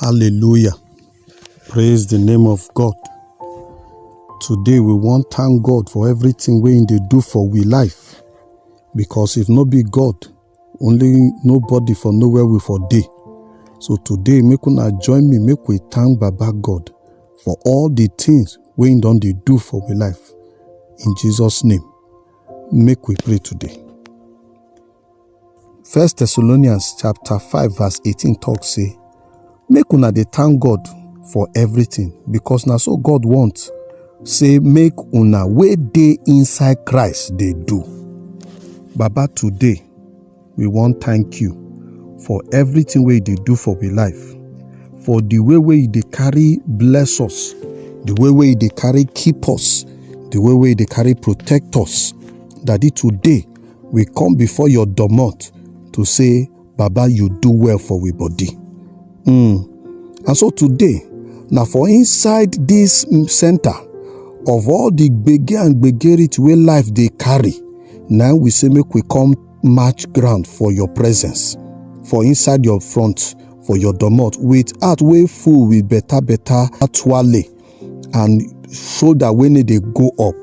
Hallelujah. Praise the name of God. Today we wan thank God for everything wey im dey do for we life because if no be God, only nobody for know where we for dey. So today make una join me make we thank Baba God for all the things wey im don dey do for we life. In Jesus name, make we pray today. First Thessalonians chapter 5 verse 18 talk say, Make una dey thank God for everything because na so God want say make una wey dey inside Christ dey do. Baba today we wan thank you for everything wey you dey do for we life, for the way wey you dey carry bless us, the way wey you dey carry keep us, the way wey you dey carry protect us. Daddy today we come before your domot to say baba you do well for we body mm. and so today na for inside this mm, center of all the gbege and gbegerit wey life dey carry na we say make we come match ground for your presence for inside your front for your domot with heart wey full with better better twale and shoulder wey no dey go up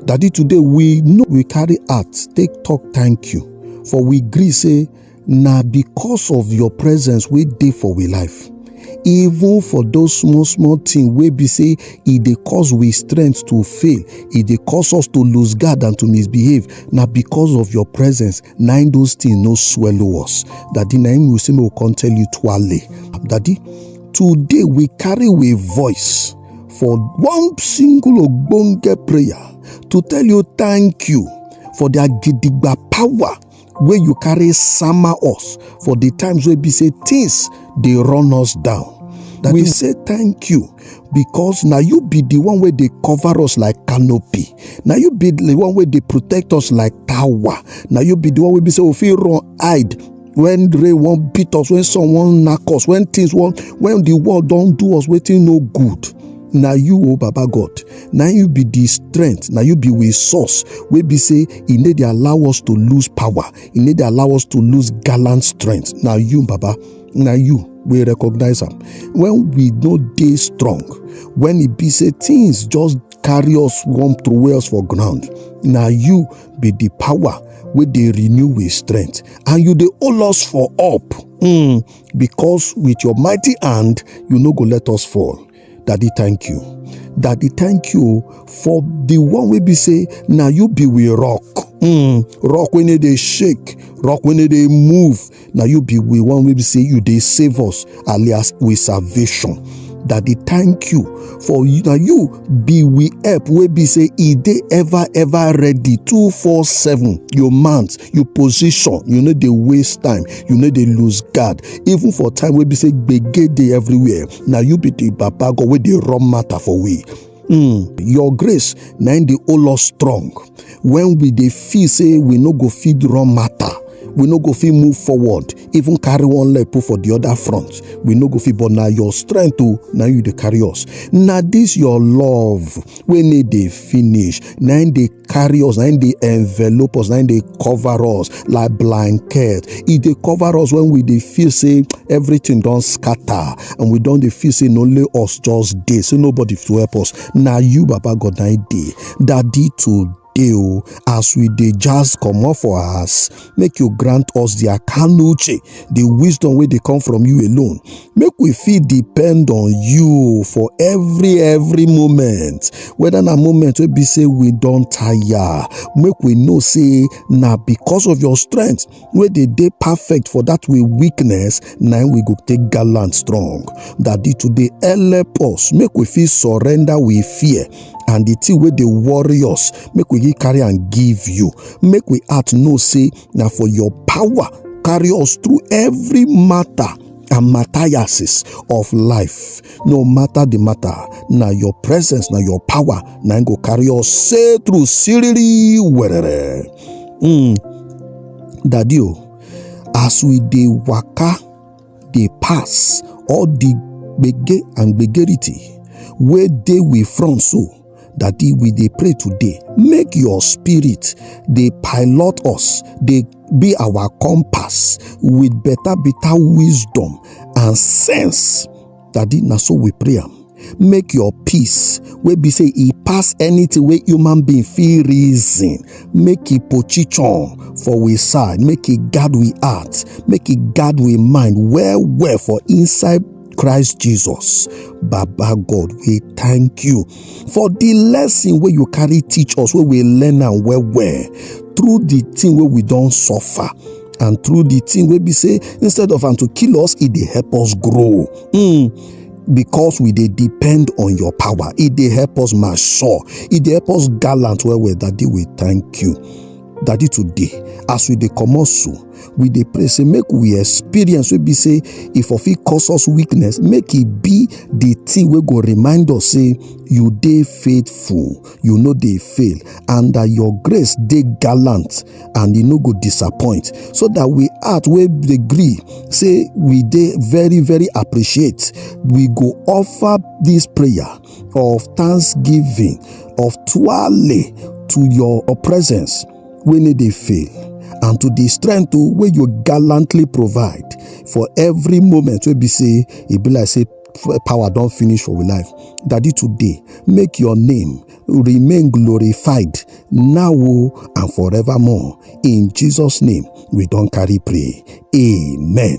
daddy today we no we carry heart take talk thank you for we gree say na because of your presence wey dey for we life even for those small small thing wey be say e dey cause we strength to fail e dey cause us to lose guard and to misbehave na because of your presence na im those things no swallow us daddy na im we say make we come tell you twale daddy today we carry we voice for one single ogbonge prayer to tell you thank you for their gidigba power wey you carry sama us for the times wey be say things dey run us down daddy we say thank you because na you be the one wey dey cover us like canopy na you be the one wey dey protect us like tower na you be the one wey be say we fit run hide when rain wan beat us when sun wan knack us when things wan when the world don do us wetin no good na you o oh baba god na you be the strength na you be we source wey be say e no dey allow us to lose power e no dey allow us to lose gallant strength na you baba na you we recognize am when we no dey strong when e be say things just carry us warm to wear us for ground na you be the power wey dey renew with strength and you dey hold us for up mm, because with your mighty hand you no go let us fall daddy thank you daddy thank you for the one wey be say na you be we rock mm, rock wey no dey shake rock wey no dey move na you be we one wey be say you dey save us alias with salvation that dey thank you for you na you be we help wey be say e dey ever ever ready two four seven your mount your position you no dey waste time you no dey lose guard even for time wey be say gbege dey everywhere na you be the baba god wey dey run matter for we Mm, your grace na im dey hold us strong when we dey feel say we no go fit run matter we no go fit move forward even carry one leg put for the other front we no go fit but na your strength o na you dey carry us na this your love wey no dey finish na im dey carry us na im dey envelop us na im dey cover us like blanket e dey cover us when we dey feel say everything don scatter and we don dey feel say na only us just dey say nobody fit help us na you baba god na im dey daddy today o as we dey jazz comot for house make you grant us the akanuche the wisdom wey dey come from you alone make we fit depend on you for every every moment whether na moment wey be say we don tire make we know say na because of your strength wey dey dey perfect for that way weakness na we go take gallant strong daddy today help us make we fit surrender we fear and the thing wey dey worry us make we carry and give you make we heart know say na for your power carry us through every matter and matthiases of life no matter the matter na your presence na your power na go carry us say through siriri werere mm. daddy o as we dey waka dey pass all the gbege and gbegerity wey dey we front so daddy we dey pray today make your spirit dey pilot us dey be our compass with better better wisdom and sense Daddy, now so we pray am. Make your peace, wey be say e pass anything wey human being feel reason, make e pochichon for we side, make e guard we heart, make e guard we mind well well for inside Christ Jesus. Baba God, we thank you. for the lesson wey you carry teach us wey we learn am well well through the thing wey we don suffer and through the thing wey be say instead of am to kill us e dey help us grow mm. because we dey depend on your power e dey help us mature e dey help us gallant well well daddy we thank you daddy today as we dey comot so we dey pray say make we experience wey be say e for fit cause us weakness make e be the thing wey go remind us say you dey faithful you no dey fail and that your grace dey gallant and e no go disappoint so that we heart wey dey gree say we dey very very appreciate we go offer this prayer of thanksgiving of twale to your presence wey no dey fail and to the strength o wey you gallantly provide for every moment wey be say e be like say power don finish for we life daddy today make your name remain glorified now o and forevermore in jesus name we don carry pray amen